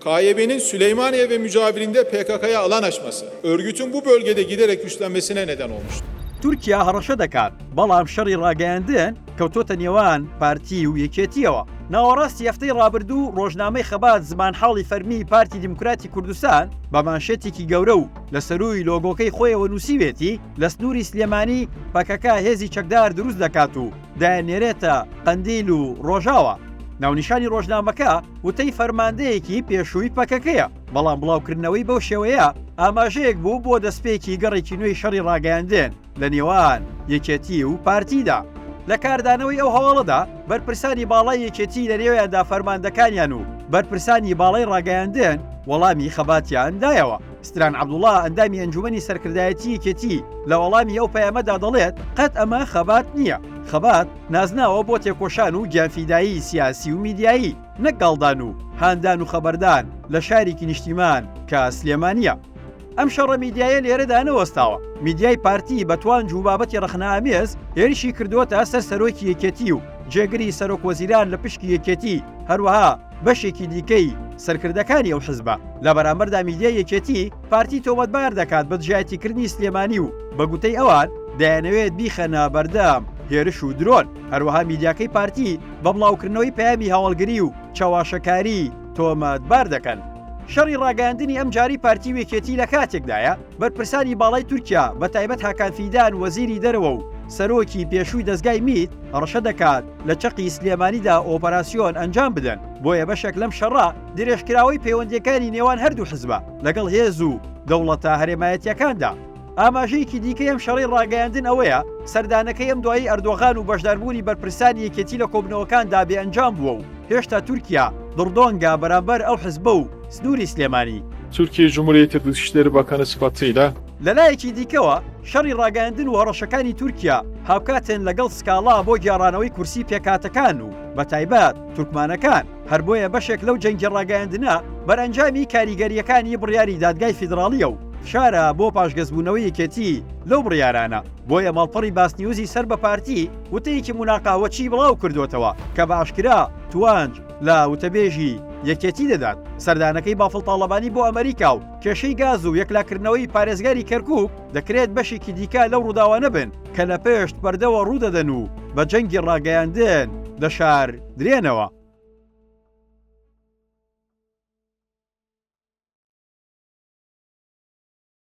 کایبینین Süleymaniyê ve mucavirinde PKK'ya alan aşması, örgütün bu bölgede giderek güçlenmesine neden olmuştu. تورکیا هەڕەشە دەکات، بەڵام شەڕی ڕاگەیاندن کەوتۆتە نێوان پارتی و یەکێتییەوە. ناوەڕاستی هەفتەی ڕابردوو ڕۆژنامەی خەبات زمانحاڵی فەرمیی پارتی دیموکراتی کوردستان بە مانشێتێکی گەورە و لە سەرووی لۆگۆکەی خۆیەوە نووسیوێتی، لە سنووری سلێمانی پەکەکە هێزی چەکدار دروست دەکات و دەنێرێتە قەندیل و ڕۆژاوا. ناونیشانی ڕۆژنامەکە وتەی فەرماندەیەکی پێشووی پەکەکەیە، بەڵام بڵاوکردنەوەی بەو شێوەیە ئاماژەیەک بوو بۆ دەستپێکی گەڕێکی نوێی شەڕی ڕاگەیاندن لە نێوان یەکێتی و پارتیدا. لە کاردانەوەی ئەو هەواڵەدا، بەرپرسانی باڵای یەکێتی لەنێویاندا فەرماندەکانیان و بەرپرسانی باڵای ڕاگەیاندن وەڵامی خەباتیان دایەوە. ستران عەبدوڵا، ئەندامی ئەنجوومەنی سەرکردایەتی یەکێتی لە وەڵامی ئەو پەیامەدا دەڵێت، قەت ئەمە خەبات نییە، خەبات نازناوە بۆ تێکۆشان و گیانفیدایی سیاسی و میدیایی، نەک گاڵدان و هاندان و خەبەردان لە شارێکی نیشتیمان کە سلێمانییە. ئەم شەڕە میدیایە لێرەدا نەوەستاوە، میدیای پارتی بە توانج و بابەتی ڕەخنەئامێز هێرشی کردووەتە سەر سەرۆکی یەکێتی و جێگری سەرۆکوەزیران لە پشکی یەکێتی، هەروەها بەشێکی دیکەی سەرکردەکانی ئەو حزبە لە بەرامبەردا میدیای یەکێتی پارتی تۆمەتبار دەکات بە دژایەتیکردنی سلێمانی و بە گوتەی ئەوان دەیانەوێت بیخەنە بەردەم هێرش و درۆن هەروەها میدیاکەی پارتی بە بڵاوکردنەوەی پەیامی هەواڵگری و چەواشەکاری تۆمەتبار دەکەن. شەڕی ڕاگەیاندنی ئەم جاری پارتی و یەکێتی لە کاتێکدایە، بەرپرسانی باڵای تورکیا بە تایبەت هاکان فیدان وەزیری دەرەوە و سەرۆکی پێشووی دەزگای میت هەڕەشە دەکات، لە چەقی سلێمانیدا ئۆپەراسیۆن ئەنجام بدەن، بۆیە بەشێک لەم شەڕە درێژکراوەی پەیوەندییەکانی نێوان هەردوو حزبە لەگەڵ هێز و دەوڵەتە هەرێمایەتییەکاندا. ئاماژەیەکی دیکەی ئەم شەڕەی ڕاگەیاندن ئەوەیە، سەردانەکەی ئەم دوایەی ئەردۆغان و بەشداربوونی بەرپرسانی یەکێتی لە کۆبنەوەکاندا بێ ئەنجام بووە و هێشتا تورکیا دڕدۆنگە بەرامبەر ئەو حزبە و سنووری سلێمانی. تورکیەی جمهوریەت دوست داره با کنه سپاتیله. لەلایەکی دیکەوە، شەڕی ڕاگەیاندن و هەڕەشەکانی تورکیا هاوکاتن لەگەڵ سکاڵا بۆ گێڕانەوەی کورسی پێکهاتەکان و بەتایبەت تورکمانەکان، هەر بۆیە بەشێک لەو جەنگی ڕاگەیاندنە بەرئەنجامی کاریگەرییەکانی بڕیاری دادگای فیدراڵییە و فشارە بۆ پاشگەزبوونەوەی یەکێتی لەو بڕیارانە، بۆیە ماڵپەڕی باسنیوزی سەر بە پارتی وتەیەکی موناقاوەچی بڵاوکردووەتەوە کە بە ئاشکرا توانج لە وتەبێژی یەکێتی دەدات سەردانەکەی بافڵ تاڵەبانی بۆ ئەمەریکا و کێشەی گاز و یەکلاکردنەوەی پارێزگاری کەرکووک دەکرێت بەشێکی دیکە لەو ڕووداوانە بن کە لە پشت پەردەوە ڕوودەدەن و بە جەنگی ڕاگەیاندن دەشاردرێنەوە.